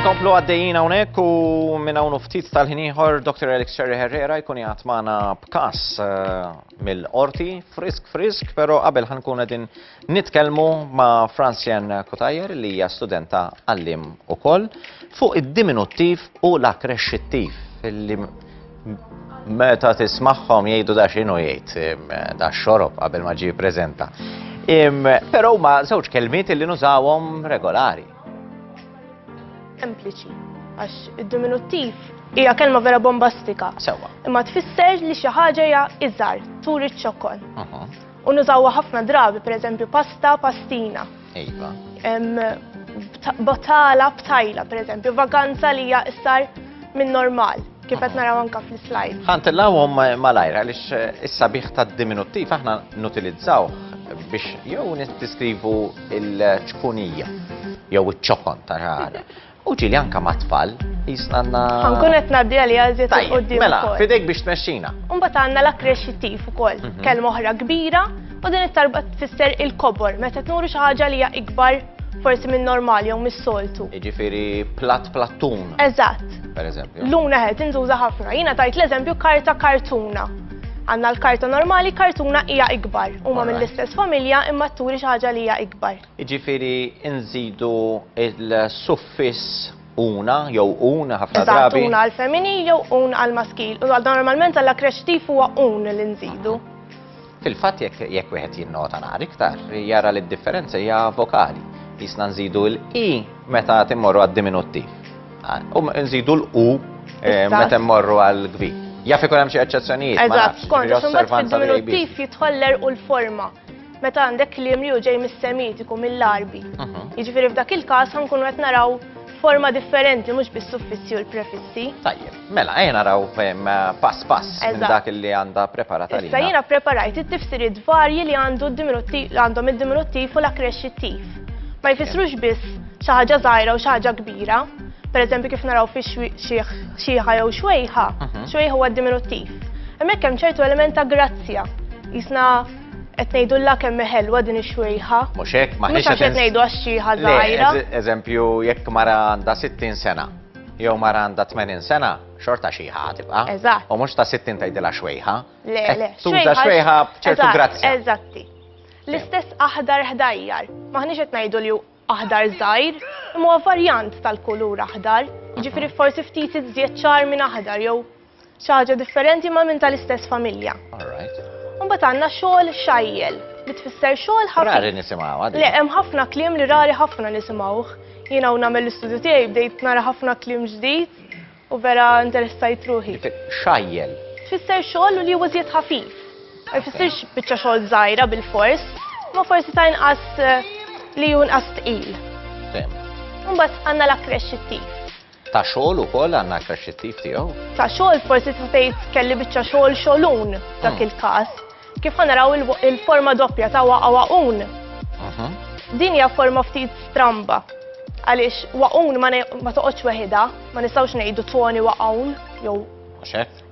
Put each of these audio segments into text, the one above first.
Inkomplu għaddejjin hawnhekk u minn hawn ftit tal-ħin ieħor Dr. Alex Cherry Herrera jkun jgħat magħna b'kas eh, mill-qorti frisk frisk, però qabel ħankun qegħdin nitkellmu ma' Francien Kutajer li hija studenta għallim ukoll fuq id-diminuttiv u l-akkrexxittiv li Meta tismagħhom jgħidu da x'inhu jgħid da xorob qabel ma ġie preżenta. Però huma żewġ kelmiet li nużawhom regolari. Sempliċi, għax id-diminuttiv hija kelma vera bombastika. Sewa. Imma tfisser li xi ħaġa hija iżgħar, turi ċ-ċokkol. U nużawha ħafna drabi, pereżempju pasta, pastina. Ejba. Botala, btajla, per eżempju, vaganza li hija istar minn normal, kif qed naraw anka fl-slide. Ħantillawhom malajra għaliex eh, is-sabiħ tad-diminuttiv aħna nutilizzaw biex jew niddeskrivu il-ċkunija jew iċ-ċokon ta' ħara. U ġieli anke mat-tfal, qisna għandna. Ħa nkun qed ngħaddi għaliha iżjed 'il quddiem ukoll. Tajjeb, mela, f'idejk biex tmexxina. U mbagħad għandna l-akkrexxittiv ukoll, mhm. kelma oħra kbira u din it-talba tfisser il-kobor meta tnuru xi ħaġa li hija ikbar forsi minn normali jew mis-soltu. Jiġifieri platt plattun. Eżatt. Per eżempju. Luna ħed inżuża ħafna. Jiena tajt l-eżempju karta kartuna. Għanna l-karta normali, kartuna hija ikbar. Huma mill-istess familja imma turi xi ħaġa li hija ikbar. jiġifieri nżidu l-suffiss una jew un ħafna drabi. Eżatt, una għall-femminil jew un għall-maskil. U normalment għall-akkreċtiv huwa un li nżidu. Fil-fatt jekk wieħed jinnota naqra iktar, jara li d-differenza hija vokali. Jisna nżidu l-i meta timmorru għad-diminuttiv. Ah, u nżidu l-u eh, meta mmorru għall-gvi. Jaf ikun hemm xi eċċezzjonijiet. Eżatt, kont, xumbat fid-diminuttiv jitħoller u l-forma. Meta għandek kliem li hu ġej mis-Semitiku, mill-Għarbi. Jiġifieri f'dak il-każ ħankunu qed naraw forma differenti mhux bis-suffissi u l-prefissi. Tajjeb, mela ejja naraw ehm, pass pass minn Eżatt. dak li għandha preparata Issa lilna. jiena preparajt it-tifsiriet varji li għandu d-diminuttiv li għandhom id-diminuttiv u l-akkresċittiv. Ma jfissrux biss xi ħaġa żgħira u xi ħaġa kbira. Pereżempju kif naraw fi xwi- xieħ- xieħa jew xwejħa, xwejħa huwa d-diminuttiv. Hemmhekk hemm ċertu element ta' grazzja. Jisna Qed ngħidulla kemm hi ħelwa din ix-xwejħa. Mhux hekk, ma Mhux għax qed ngħidu għax xieħa żgħira. Eżempju, jekk mara għandha 60 sena, jew mara għandha 80 sena, xorta xieħa tibqa'. Eżatt. U mhux ta' 60 tgħidilha xwejħa. Le, le. Tuża xwejħa b'ċertu grazzja. Eżatti. L-istess aħdar ħdajjar. Maħniex qed ngħidu li aħdar żgħir, imma varjant tal-kulur aħdar. Jiġifieri forsi ftit iżjed ċar minn aħdar jew Xi ħaġa differenti ma' minn tal-istess familja. All right. Imbagħad għandna xogħol xajjel li tfisser xogħol ħafif. Rari nisimgħuha din. Le, hemm ħafna kliem li rari ħafna nisimgħuh. Jiena hawn nagħmel l-istudju tiegħi bdejt nara ħafna kliem ġdid u vera interessajt ruħi. Xajjel. Tfisser xogħol li huwa żjed ħafif. Ma jfissirx biċċa xogħol żgħira bil-fors, ma forsi ta' inqas eh, li hu inqas tqil. Fehmt. Imbagħad għandna l-akkresċittiv. Ta' xogħol ukoll għandna aktar xittif tiegħu. Ta' xogħol forsi tista' tgħid kelli biċċa xogħol xogħlun dak hmm. il-każ. Kif ħanaraw il-forma doppja ta' waqa' waqun. Mhm. Din hija forma ftit stramba. Għaliex waqun ma toqgħodx weħida, ma nistgħux ngħidu toni waqun jew.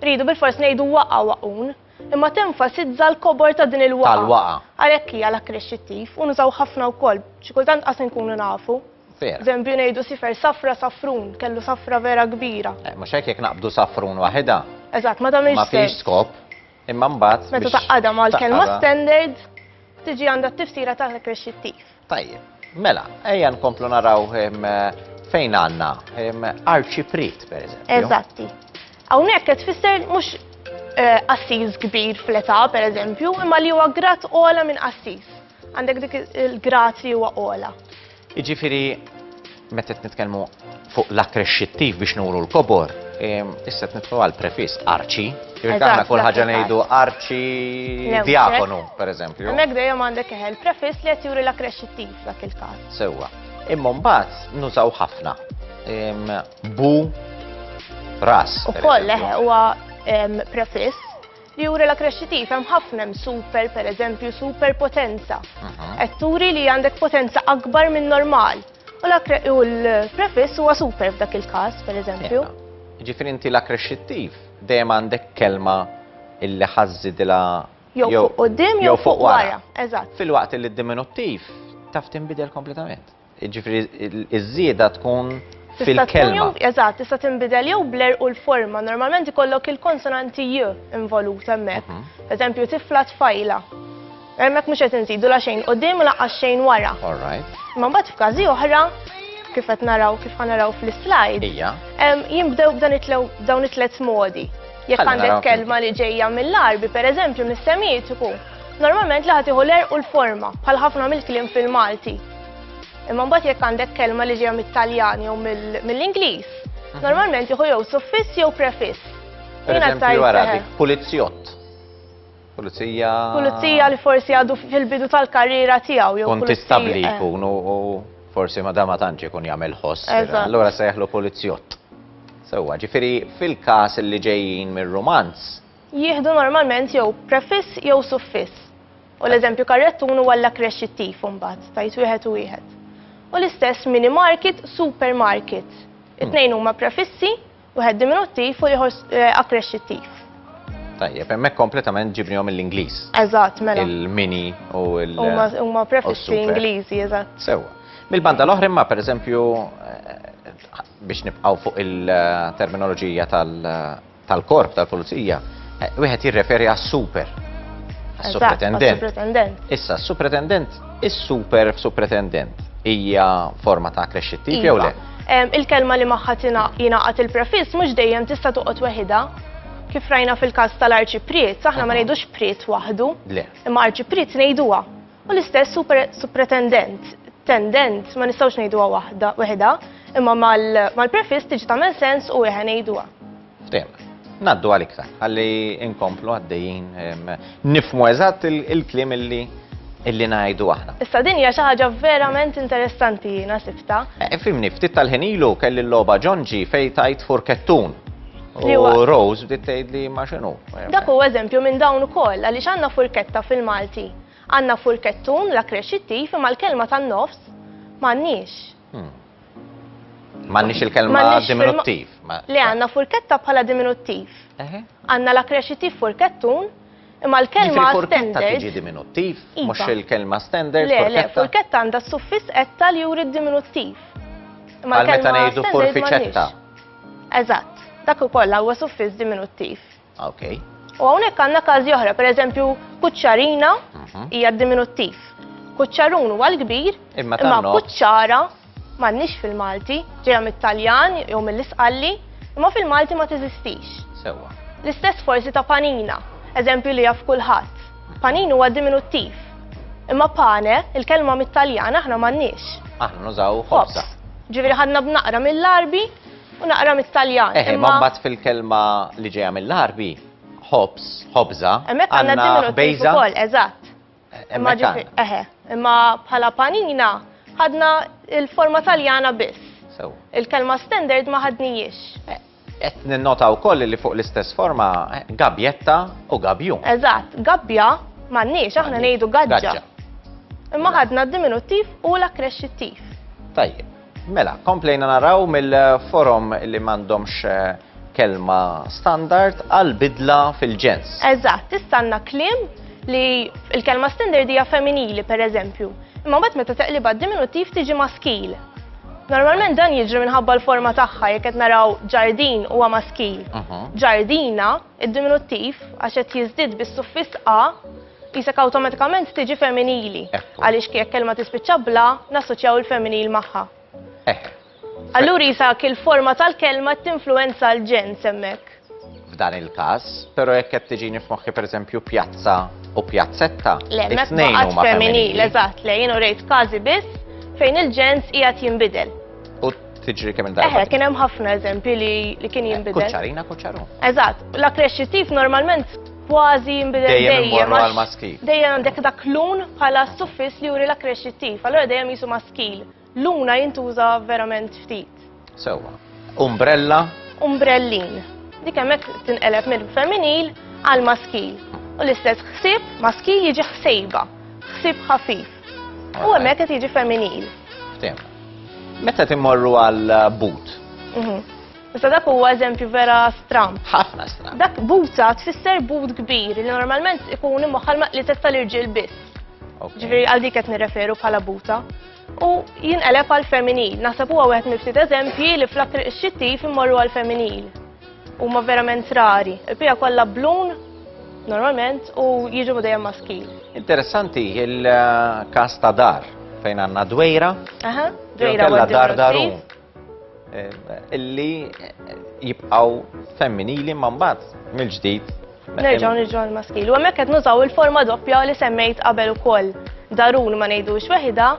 Ridu bil-fors ngħidu waqa' waqun imma tenfasizza l-kobor ta' din il-waqa. Tal-waqa. Għalhekk hija l-akkrexxittiv u nużaw ħafna wkoll, xi kultant qas nkunu nafu. Vera. Żempju ngħidu sifer safra safrun, kellu safra vera kbira. Eh, mhux hekk jekk naqbdu safrun waħedha. Eżatt, ma tagħmilx Ma fiex skop. Imma mbagħad. Meta taqgħadha mal-kelma standard tiġi għandha t-tifsira ta' kreċittiv. Tajjeb. Mela, ejja nkomplu naraw ehm, fejn għandna ehm, arċiprit, per eżempju. Eżatti. Hawnhekk qed tfisser mhux eh, assis kbir fl-età, per eżempju, imma li huwa grat ola minn assis. Għandek dik il-grad li huwa ola. Iġifiri, meta nitkellmu fuq l-akkresċittiv biex nuru l-kobor, issa nitlu għal prefis arċi, jirtaħna kull ħaġa ngħidu arċi diakonu, per eżempju. Hemmhekk dejjem għandek eħel prefis li qed juri l-akkresċittiv dak il-każ. Sewwa. Imma mbagħad nużaw ħafna. Bu ras. Ukoll leħe huwa prefis li juri la krexxitiv hemm ħafna hemm super pereżempju super potenza. Qed turi li għandek potenza akbar minn normal. U l-prefiss huwa super f'dak il-każ pereżempju. Ġifieri inti la krexxitiv dejjem għandek kelma illi ħażidilha jew fuq qudiem jew fuq wara. Eżatt. Filwaqt li d-diminuttiv taf tinbidel kompletament. Jiġifieri iż-żieda tkun fil-kelma. Eżatt, tista' tinbidel jew bler u l-forma. Normalment ikollok il-konsonanti j involut hemmhekk. Mhm. Eżempju, tifla tfajla. Hemmhekk mhux qed inżidu la xejn qudiem u laqqas xejn wara. All right. Ma mbagħad f'każi oħra kif qed naraw kif ħanaraw fl-slide. Ija. Jinbdew b'dan dawn it-tlet modi. Jekk għandek kelma li ġejja mill-arbi, pereżempju mis-semitiku, Normalment li ħatiħu l-er u l-forma, bħal ħafna mill-kliem fil-Malti. Imma mbagħad jekk għandek kelma li ġejja mit-Taljan jew mill-Ingliż, mhm. normalment jieħu jew suffiss jew prefiss. Per eżempju, wara dik pulizzjott. Pulizija. Pulizija li forsi għadu fil-bidu tal-karriera tiegħu jew. Kontistabbli eh. jkun u forsi ma dama tantx ikun jagħmel ħoss. Allura se jaħlu pulizzjott. Sewwa, ġifieri fil-każ li ġejjin mir-romanz, jieħdu normalment jew prefiss jew suffiss, u l-eżempju karrettun huwa l-akkresċittiv imbagħad, tajt wieħed u wieħed. U l-istess minimarket, supermarket. It-tnejn huma prefissi, wieħed diminuttiv u ieħor eh, akkresċittiv. Tajjeb, hemmhekk kompletament ġibnihom mill-Ingliż. Eżatt, mela. Il-mini u l Huma prefissi Ingliżi, eżatt. Sewwa. Mill-banda l-oħra imma pereżempju eh, biex nibqgħu fuq il-terminoloġija tal- tal-Korp tal-Pulizija, eh, wieħed jirreferi għas-super. Għas-supretendent. Issa, supretendent, is-super f'supretendent hija forma ta' krexxittiv jew le? Iva. Il-kelma li magħha jingħaqad il-prefiss mhux dejjem tista' toqgħod weħidha kif rajna fil-kas tal-arċipriet, aħna ma ngħidux priet waħdu, imma arċipriet ngħiduha. U l-istess supretendent, tendent, ma nistgħux ngħiduha waħda weħda, imma mal-prefiss tiġi tagħmel sens u wieħed ngħiduha. Ftehim. Naddu għal iktar, għalli inkomplu għaddejjin nifmu eżatt il-klim illi illi najdu aħna. Issa din hija xi ħaġa verament interessanti jiena sibta. Eh, fimni, ftit tal-ħinilu kelli l-logħba ġonġi fejn tajt furkettun. U Rose bdiet tgħid li ma x'inhu. Dak huwa eżempju minn dawn ukoll għaliex għandna furketta fil-Malti. Għandna furkettun, l-akrex it-tif, imma l-kelma tan-nofs m'għandniex. Hmm. M'għandniex il-kelma diminuttiv. Le għandna furketta bħala diminuttiv. Għandna l-akrex it-tif furkettun, imma l-kelma standard. Tiġi diminuttiv, iva. mhux il-kelma standard. Le, le, furketta għandha s-suffiss etta li juri d-diminuttiv. Imma l-kelma standard. Meta ngħidu furfiċetta. Eżatt, dak ukoll huwa suffiss diminuttiv. Okay. U hawnhekk għandna każi oħra, pereżempju kuċċarina mhm. hija diminuttiv. Kuċċarun huwa l-kbir, imma kuċċara m'għandniex fil-Malti, ġejja mit-Taljan jew mill-Isqalli, imma fil-Malti ma teżistix. Sewwa. L-istess forsi ta' panina, eżempju li jaf kulħadd. Panin huwa diminuttiv. Imma pane, il-kelma mit-Taljan aħna m'għandniex. Aħna nużaw ħobza. Ġifieri ħadna b'naqra mill-arbi U naqra mit-Taljan. Eħe, ma mbagħad fil-kelma li ġejja mill-Għarbi, ħobż, ħobża. Hemmhekk għandna diminutiv ukoll, eżatt. Imma eħe, imma bħala panina ħadna il-forma Taljana biss. Il-kelma standard ma ħadnijiex. Eh, qed ninnota wkoll li fuq l-istess forma eh, gabjetta u gabju. Eżatt, gabbja m'għandniex aħna ngħidu gaġġa. Imma ħadna d-diminuttiv u l-akkresċittiv. Tajjeb. Mela, komplejna naraw mill-forom li m'għandhomx kelma standard għal bidla fil-ġens. Eżatt, tistanna kliem li il-kelma standard hija femminili per eżempju, imma mbagħad meta teqlibha diminuttiv tiġi maskil. Normalment dan jiġri minħabba l-forma tagħha jekk qed naraw ġardin huwa maskil. Mhm. Ġardina, id-diminuttiv, għax qed jiżdied bis-suffiss a, Qisek awtomatikament tiġi femminili. Għaliex jekk kelma tispiċċa bla, nassoċjaw il-femminil magħha. Hekk. Allura jisak il-forma tal-kelma tinfluwenza l-ġen semmek. F'dan il-każ, però jekk qed tiġini f'moħħi pereżempju pjazza u pjazzetta. Le, mekk femminil, eżatt, le, jienu rejt każi biss fejn il-ġens qiegħed jinbidel tiġri kemm il-darba. Eħe, kien hemm ħafna eżempji li kien jinbidel. Kuċċarina, kuċċaru. Eżatt, l-akkrexxitiv normalment kważi jinbidel dejjem. Dejjem imorru għal maskil. Dejjem għandek dak lun bħala suffis li juri l akkrexittiv allora dejjem jisu maskil. Luna jintuża verament ftit. Sewa. Umbrella? Umbrellin. Dik hemmhekk tinqeleb minn femminil għal maskil. U l-istess ħsieb maskil jiġi ħsejba, ħsieb ħafif. U hemmhekk qed jiġi femminil. Ftim. Meta timmorru għal but? Mhm. Issa dak huwa eżempju vera stram. Ħafna stram. Dak buta tfisser but kbir li normalment ikun imwaħħal ma' li testa l-irġiel biss. Ġifieri għal dik qed nirreferu bħala buta. U jinqeleb għal femminil. Naħseb huwa wieħed mill-ftit eżempji li flak xittif immorru għal femminil. Huma verament rari. Il-pija kollha blun normalment u jiġu dejjem maskil. Interessanti il-kas ta' dar fejn għandna dwejra. Aha, dwejra. Dar darum. Illi jibqaw femminili ma mbagħad mill-ġdid. Nerġgħu nirġgħu l-maskili. U hemmhekk qed nużaw il-forma doppja li semmejt qabel ukoll. Darun ma ngħidux weħida,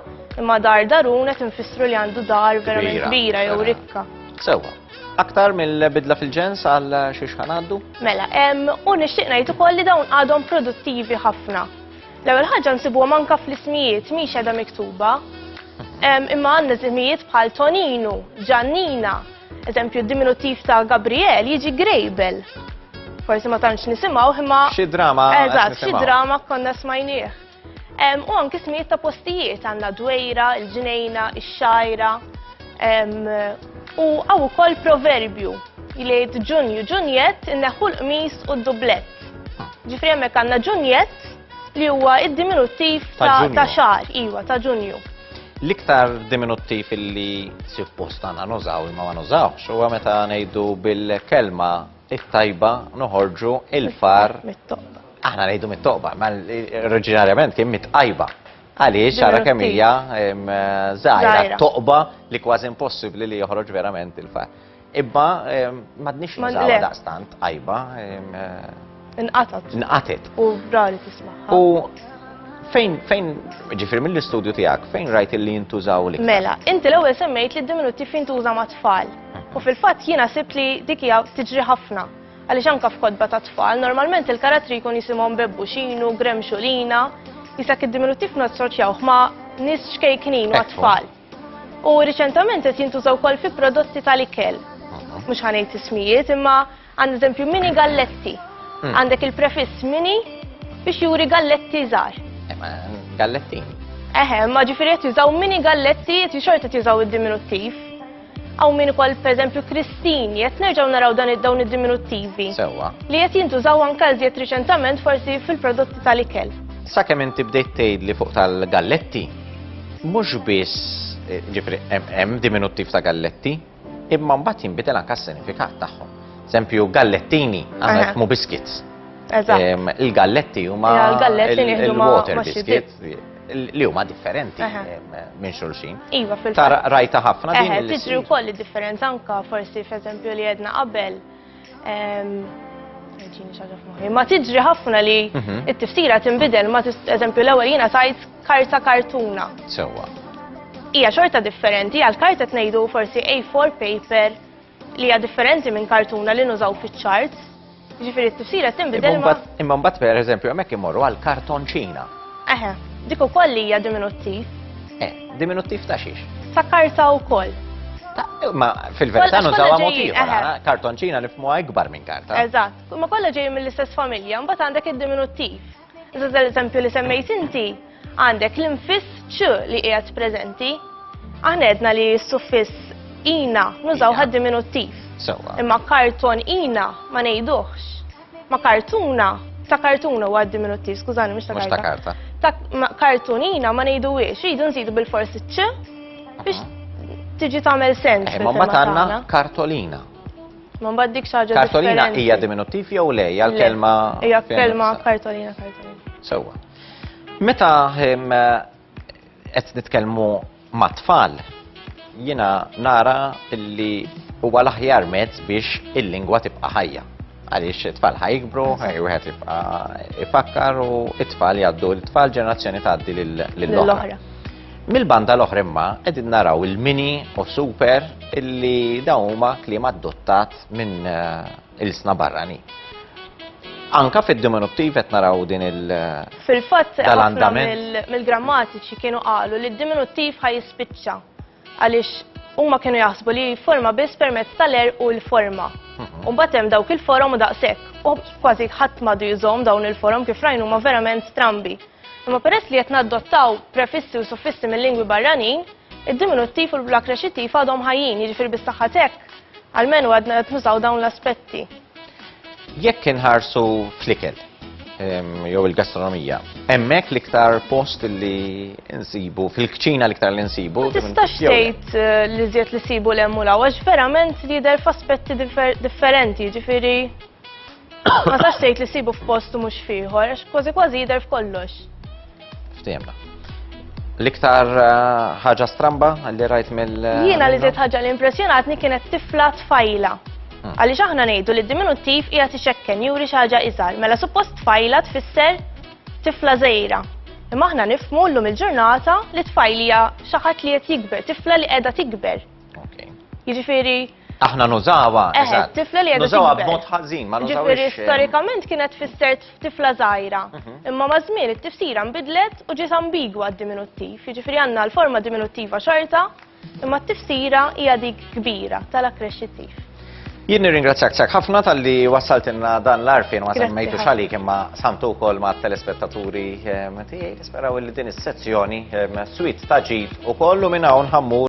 imma dar darun qed infissru li għandu dar verament kbira jew rikka. Sewwa. Aktar mill-bidla fil-ġens għal xiex ħanaddu? Mela, u nixtieq ngħid ukoll li dawn għadhom produttivi ħafna. L-ewwel ħaġa nsibuhom anke fl-ismijiet mhix qiegħda miktuba. Imma għandna ismijiet bħal Toninu, Ġannina, eżempju d-diminuttiv ta' Gabriel jiġi Grejbel. Forsi ma tantx nisimgħu imma. Xi drama. Eżatt, xi drama konna smajnieh. U anke ismijiet ta' postijiet għandna dwejra, il-ġnejna, ix-xajra. U għaw ukoll proverbju li jgħid ġunju ġunjett inneħħu l-qmis u d-dublett. Ġifri hemmhekk għandna ġunjett li huwa id-diminuttiv ta' xar, iwa, ta' ġunju. L-iktar diminuttiv li suppost għandna nużaw imma ma nużawx huwa meta ngħidu bil-kelma it-tajba noħorġu il-far. Mit-toqba. Aħna ngħidu mit-toqba, ma oriġinarjament kien mit-tajba. Għaliex ara kemm hija żgħira toqba li kważi impossibbli li joħroġ verament il-far. Ibba m'għadniex nużawha daqstant għajba. Inqatat. Inqatet. U rari tismaħħa. U fejn fejn ġifir mill-istudju tiegħek fejn rajt li jintużaw li. Mela, inti l-ewwel semmejt li d-diminuttiv jintuża ma' tfal. U fil-fatt jiena sibt li dik hija tiġri ħafna. Għaliex anka f'kodba ta' tfal, normalment il-karattri jkun jisimhom bebbu xinu, grem xulina, jisak id-diminuttiv nassoċjawh ma' nis ċkejknin u tfal. U riċentament qed jintuża wkoll fi prodotti tal-ikel. Mhux ħanejt ismijiet, imma għand eżempju mini galletti. Hmm. Għandek il-prefiss mini biex juri galletti żgħar. Eh, galletti. Eħe, ma ġifieri qed jużaw mini galletti qed xorta jużaw id-diminuttiv. Għaw min ukoll pereżempju Kristini, qed nerġgħu naraw dan id-dawn id-diminuttivi. Sewwa. Li qed jintużaw anke żjed riċentament forsi fil-prodotti tal-ikel. Sakemm inti bdejt tgħidli fuq tal-galletti, Mhux biss eh, ġifri hemm diminuttiv ta' galletti, imma mbagħad jinbidel anke s-sinifikat tagħhom. Sempju gallettini għandna jifmu biskits. Il-galletti huma il-water biscuits li huma differenti minn xulxin. Iva, fil-fatt. Rajta ħafna din. Tiġri wkoll id-differenza anka forsi f'eżempju li jedna qabel Ma tiġri ħafna li mhm. it-tiftira tinbidel ma eżempju l-ewwel jiena tajt karta kartuna. Sewwa. Hija xorta differenti għal karta tnejdu forsi A4 paper li hija differenti minn kartuna li nużaw fiċ-charts. Ġifieri t-tiftira tinbidel. Imma mbagħad pereżempju hemmhekk imorru għal kartonċina. Eħe, dik ukoll hija diminuttiv. Eh, diminuttiv ta' xiex? Ta' karta wkoll. Eh, ma fil-verità nużawha mod ieħor, eh, eh. kartonċina nifmu ikbar minn karta. Eżatt, ma kollha ġej mill-istess familja, mbagħad għandek id-diminuttiv. Iżda l-eżempju li semmejt inti għandek l-infiss ċ li qiegħed preżenti. Aħna għedna li s-suffiss ina nużaw ħad diminuttiv. Imma karton ina ma ngħiduhx. ma' kartuna, ta' kartuna huwa diminuttiv, skużani, mhux ta' karta. Mhux ta' karta. Ta' kartunina ma ngħiduhiex, jridu nżidu bil-forsi ċ biex tiġi tagħmel sens. Eh, ma ma tagħna kartolina. Ma mbagħad dik xi ħaġa Kartolina hija diminuttiv jew le, hija l-kelma. Hija kelma kartolina kartolina. Sewwa. Meta qed nitkellmu mat-tfal, jiena nara li huwa l-aħjar mezz biex il-lingwa tibqa' ħajja. Għaliex it-tfal ħajkbru, wieħed jibqa' ifakkar u it-tfal jgħaddu l-tfal ġenerazzjoni tgħaddi lill-oħra. Mill-banda l-oħra imma qegħdin naraw il-mini u super illi dawn huma kliem adottat minn eh, ilsna barranin. Anka fid-diminuttiv qed naraw din il- Fil-fatt, ħafna mill-grammatiċi kienu qalu li d-diminuttiv ħaj jispiċċa għaliex huma kienu jaħsbu li forma biss permezz tal-er u l-forma. Mhm. U mbagħad hemm dawk il-forom u daqshekk. U kważi ħadd madu jżomm dawn il-forom kif rajnu huma verament strambi. Imma peress li qed naddottaw prefissi u suffissi mill-lingwi barranin, Id-diminuttiv u l-akkreċittiv għadhom ħajjin, jiġifieri bis-saħħa t'hekk, almenu għadna qed nużaw dawn l-aspetti. Jekk inħarsu fl-ikel, ehm, jew il-gastronomija, hemmhekk l-iktar post li nsibu, fil-kċina l-iktar li nsibu. Ma tistax tgħid eh, li żjed li sibu l-hemm u l-għawax, verament jidher f'aspetti differenti, jiġifieri Ma sax tgħid li sibu f'post u mhux fieħor, għax kważi kważi jidher f'kollox. Ftehimna. L-iktar eh, ħaġa stramba li rajt mill. Eh, Jiena li żied ħaġa li impressjonatni kienet tifla tfajla. Hmm. Għaliex aħna ngħidu li d-diminuttiv hija tixekken juri xi ħaġa iżgħar, mela suppost tfajla tfisser tifla żejra. Imma aħna nifmu llum il-ġurnata li tfajlija xi ħadd li qed jikber, tifla li qiegħda tikber. Jiġifieri Aħna nużawa, eh, eżatt. Tifla li Nużawa b'mod ħażin, ma nużawx. Ġifieri eh, storikament kienet fisser tifla żgħira. Mhm. Imma ma' żmien it-tifsira nbidlet u ġiet ambigwa d-diminuttiv. Jiġifieri għandna l-forma diminuttiva xorta, imma t-tifsira hija dik kbira tal-akkresċittiv. Jien nirringrazzjak sak ħafna tal-li wassaltinna dan l-arfin ma semmejtu xali imma samtu wkoll ma' telespettaturi eh, tiegħi nisperaw li din is-sezzjoni swit ta' ġid u kollu minn hawn ħammur